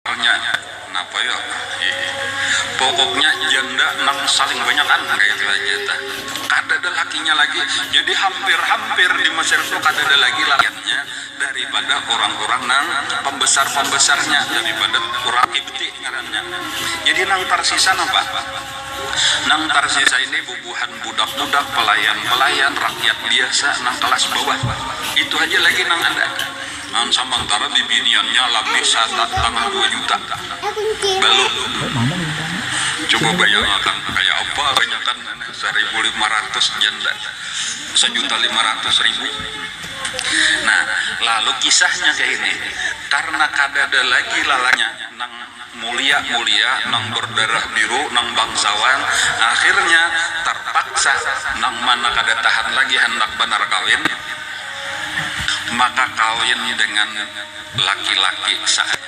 Tanya, Napa yo ah ih. Pokoknya janda nang saling banyakan kaytu haja tah. Kadada lakinya lagi. Jadi hampir-hampir di Mesir tu kadada lagi lakiannya daripada urang-urang nang pambesar-pambesarnya, daripada urang Qibti ngarannya. Jadi nang tarsisa napa? Nang tarsisa ini bubuhan budak-budak, pelayan-pelayan, rakyat biasa nang kalas bawah. Itu haja lagi nang ada. Nang samantara bibiniannya labih satak tanah dua juta. Balum. Coba bayangakan kaya apa ganyakan saribu lima ratus janda sajuta lima ratus ribu. Nah, lalu kisahnya kaya ini, karna kadada lagi lalanya nang. Mulia mulia nang berdarah biru nang bangsawan akhirnya terpaksa nang mana kada tahan lagi handak banar kawin maka kawin dengan laki laki saat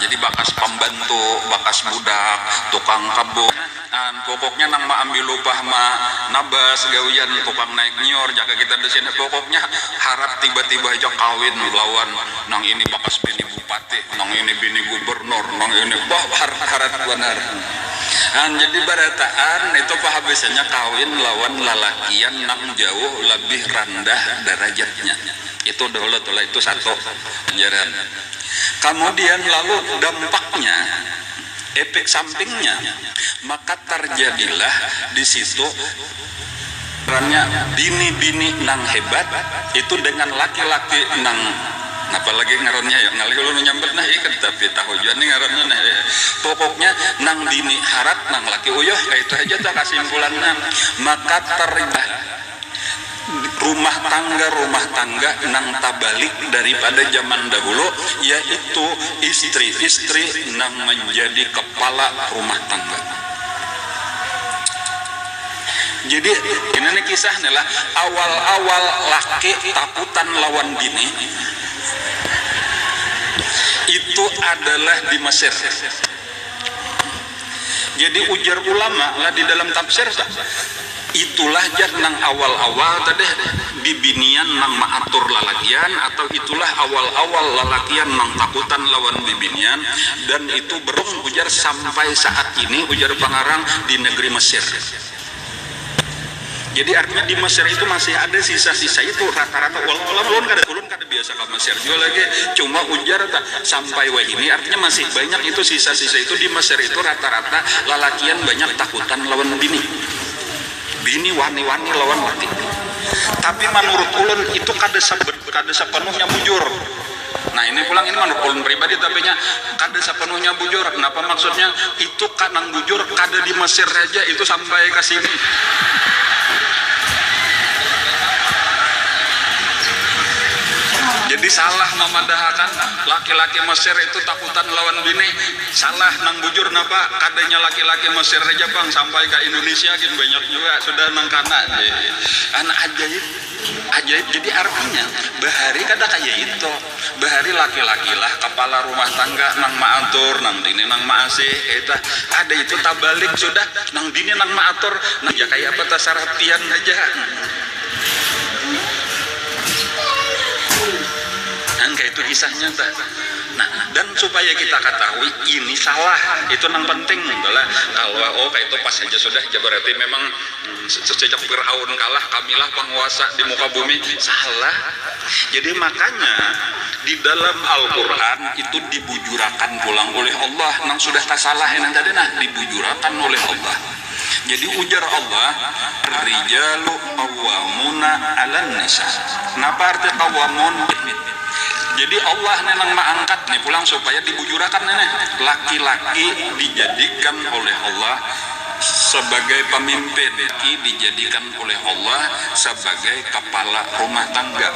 jadi bakas pembantu bakas budak tukang kebun. An, pokoknya nang maambil upah ma nabas gawian tukang naik nyior jaka kita disini, pokoknya harap tiba tiba haja kawin lawan nang ini bakas bini bupati, nang ini bini gubernur, nang ini bah harat harat banar. An, jadi barataan nitu pahabisannya kawin lawan lalakian nang jauh labih randah darajatnya. Itu dahulu tu lah, itu satu, jar an. Kamudian lalu dampaknya. Epek sampingnya, maka tarjadilah di situ rannya bini-bini nang hebat itu dengan laki-laki nang, napa lagi ngarannya yo, ngalih ulun manyambat nah ih kada tapi tahu jua nih ngarannya nah ih, pokoknya nang bini harat nang laki uyuh, kaytu haja tu kasimpulannya, maka tarjadilah. Rumah tangga-rumah tangga nang tabalik daripada zaman dahulu yaitu istri-istri nang manjadi kepala rumah tangga. Jadi, ini ni kisah ni lah, awal-awal laki takutan lawan bini itu adalah di Mesir. Jadi ujar ulama lah di dalam tafsir ta, itulah jar nang awal-awal tadeh bibinian nang maatur lalakian atau itulah awal-awal lalakian nang takutan lawan bibinian dan itu berung ujar sampai saat ini ujar pangarang di negeri Mesir. Jadi artinya di Mesir itu masih ada sisa-sisa itu rata-rata walau alam ulun kada ulun kada biasa ka Mesir jua lagi cuma ujar ta sampai wahini artinya masih banyak itu sisa-sisa itu di Mesir itu rata-rata lalakian banyak takutan lawan bini bini wani-wani lawan laki tapi manurut ulun itu kada kada sapanuhnya bujur. Nah ini pulang, ini menurut ulun pribadi tapi nya kada sepenuhnya bujur. Napa maksudnya? Itu kah nang bujur? Kada di Mesir haja, itu sampai ka sini. Jadi salah mamadahakan laki-laki Mesir itu takutan lawan bini. Salah, nang bujur napa? Kadanya laki-laki Mesir haja pang, sampai ka Indonesia gin banyak jua sudah nang kana. Anak ajaib. Ajaib jadi artinya bahari kada kaya itu, bahari laki-lakilah kapala rumah tangga nang maatur nang bini nang maasih kaitu, kada itu tabalik sudah nang bini nang maatur nang maasih kaya apa tasarah pian haja nang kaitu kisahnya tuh nah dan supaya kita katahui ini salah itu nang penting tuh lah kalo oh kaitu pas haja sudah ja berarti memang. Sejak Fir'aun kalah, kamilah panguasa di muka bumi. Salah. Jadi makanya di dalam Al-Qur'an itu dibujurakan pulang ulih Allah nang sudah tasalah ini tadi nah, dibujurakan ulih Allah. Jadi ujar Allah, Ar-rijalu qawwamuna 'alan nisa. Napa arti qawwamun? Jadi Allah nih nang maangkat nih pulang supaya dibujurakan ini, laki-laki dijadikan oleh Allah Sabagai pamimpin, laki dijadikan oleh Allah sabagai kapala rumah tangga.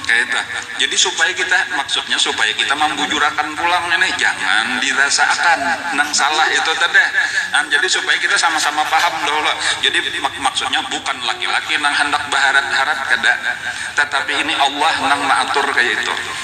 Kayatu. Jadi supaya kita, maksudnya supaya kita mambujurakan pulang ini, jangan dirasaakan nang salah itu tadi. Nah, jadi supaya kita sama-sama paham dahulu. Jadi, mak-maksudnya bukan laki-laki nang handak baharat-harat, kada. Tatapi ini Allah nang maatur kaya itu.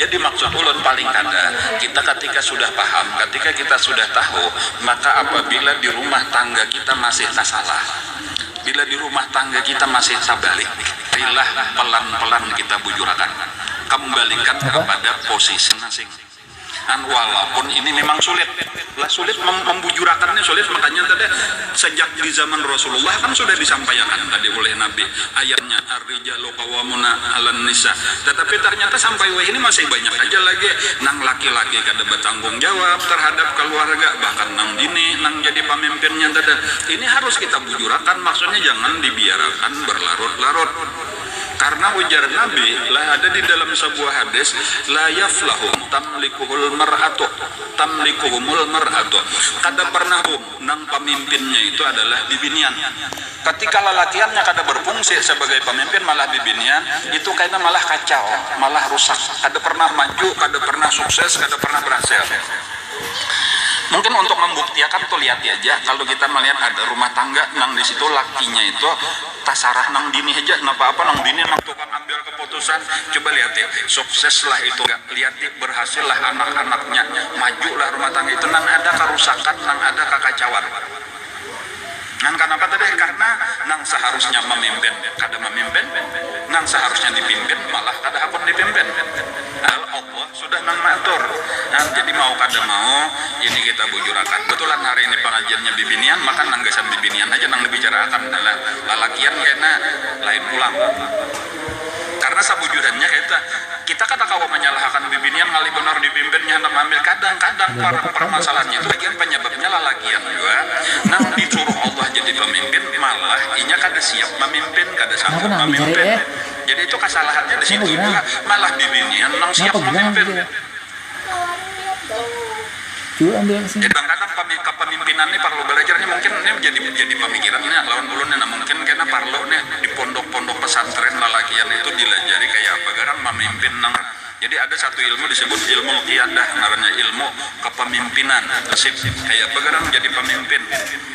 Jadi maksud ulun paling kada, kita katika sudah paham, katika kita sudah tahu, maka apabila di rumah tangga kita masih tasalah, bila di rumah tangga kita masih tabalik, rilah pelan-pelan kita bujurakan, kembalikan kapada posisi masing. An walaupun ini memang sulit lah sulit membujurakannya sulit makanya tadi sejak di zaman rasulullah kan sudah disampaiakan tadi ulih nabi ayatnya ar rijalu qawamuna alan nisa tetapi ternyata sampai wahini masih banyak haja lagi nang laki laki kada batanggung jawab terhadap kaluarga bahkan nang bini nang jadi pamimpinnya tadi ini harus kita bujurakan maksudnya jangan dibiarakan berlarut larut. Karna ujar Nabi, lah ada di dalam sabuah hadis, La yaflahum tamlikuhul mar'atu, tamlikuhumul mar'atu, kada parnah hum, nang pamimpinnya itu adalah bibinian. Katika lalakiannya kada barfungsi sabagai pamimpin malah bibinian, itu kaina malah kacau, malah rusak, kada parnah maju, kada parnah sukses, kada parnah barhasil. Mungkin untuk mambuktiakan tu liati aja, kalu kita malihat ada rumah tangga nang di situ lakinya itu, Tasarah nang bini haja napa apa nang bini nang tukang ambil keputusan coba lihati sukses lah itu ga lihati berhasil lah anak anaknya maju lah rumah tangga itu nan ada karusakan nang ada kakacauan ngan kanapa tadi karna nang seharusnya memimpin kada memimpin nang seharusnya dipimpin malah kada hakun dipimpin padahal Allah Sudah nang maatur. Nah, jadi mau kada mau, ini kita bujurakan. Betulan hari ini pangajiannya bibinian, maka nang gasan bibinian haja nang dibicaraakan. Nah, lalakian kena lain pulang. Karena sabujurannya kaytu, kita kada kawa manyalahakan bibinian ngalih banar dipimpinnya handak maambil. Kadang-kadang parmasalahannya itu bagian panyababnya lalakian jua nang disuruh Allah jadi pamimpin, malah inya kada siap mamimpin, kada sanggup mamimpin. Jadi itu kasalahannya di situ jua, malah bibinian nang siap mamimpin. Jadi kadang-kadang pami kapamimpinan ni parlu balajar ni mungkin ni jadi jadi pamikiran ni nah lawan ulun ni nah mungkin kena parlu nih di pondok-pondok pesantren lalakian itu dilajari kaya apa garang mamimpin nang Jadi ada satu ilmu disebut ilmul qiyadah ngarannya ilmu kepemimpinan, leadership, kayapa garang jadi pemimpin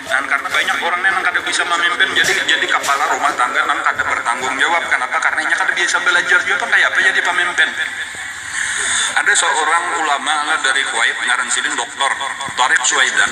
nang karna banyak orang nih nang kada bisa mamimpin jadi jadi kapala rumah tangga nang kada bertanggung jawab kanapa karna inya kada biasa balajar jua pang kayapa jadi pemimpin ada seorang ulama lah dari kuwait ngaran sidin doktor tariq suwaidan.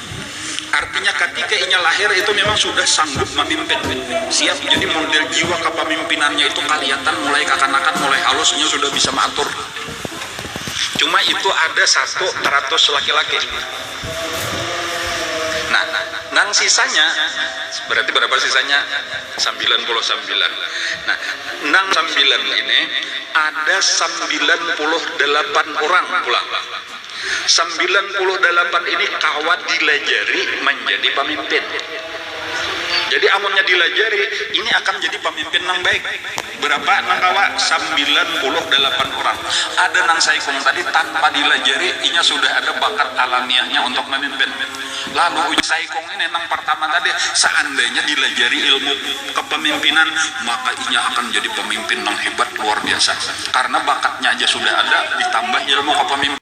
Artinya katika inya lahir itu memang sudah sanggup mamimpin, siap, jadi model jiwa kapamimpinannya itu kalihatan mulai kakanakan, mulai halus inya sudah bisa maatur. Cuma itu ada satu taratus laki-laki. Nah, nang sisanya, berarti barapa sisanya? Sambilan puluh sambilan. Nah, nang sambilan ini ada sambilan puluh dalapan urang pulang. Sambilan puluh dalapan ini kawa dilajari manjadi pamimpin. Jadi amunnya dilajari, ini akan jadi pamimpin nang baik. Berapa nang kawa? Sambilan puluh dalapan urang. Ada nang saikung tadi tanpa dilajari, inya sudah ada bakat alamiahnya untuk mamimpin. Lalu ujar saikung. Ini nang partama tadi, seandainya dilajari ilmu kepemimpinan, maka inya akan jadi pemimpin nang hebat luar biasa. Karena bakatnya aja sudah ada, ditambah ilmu kepemimpinan.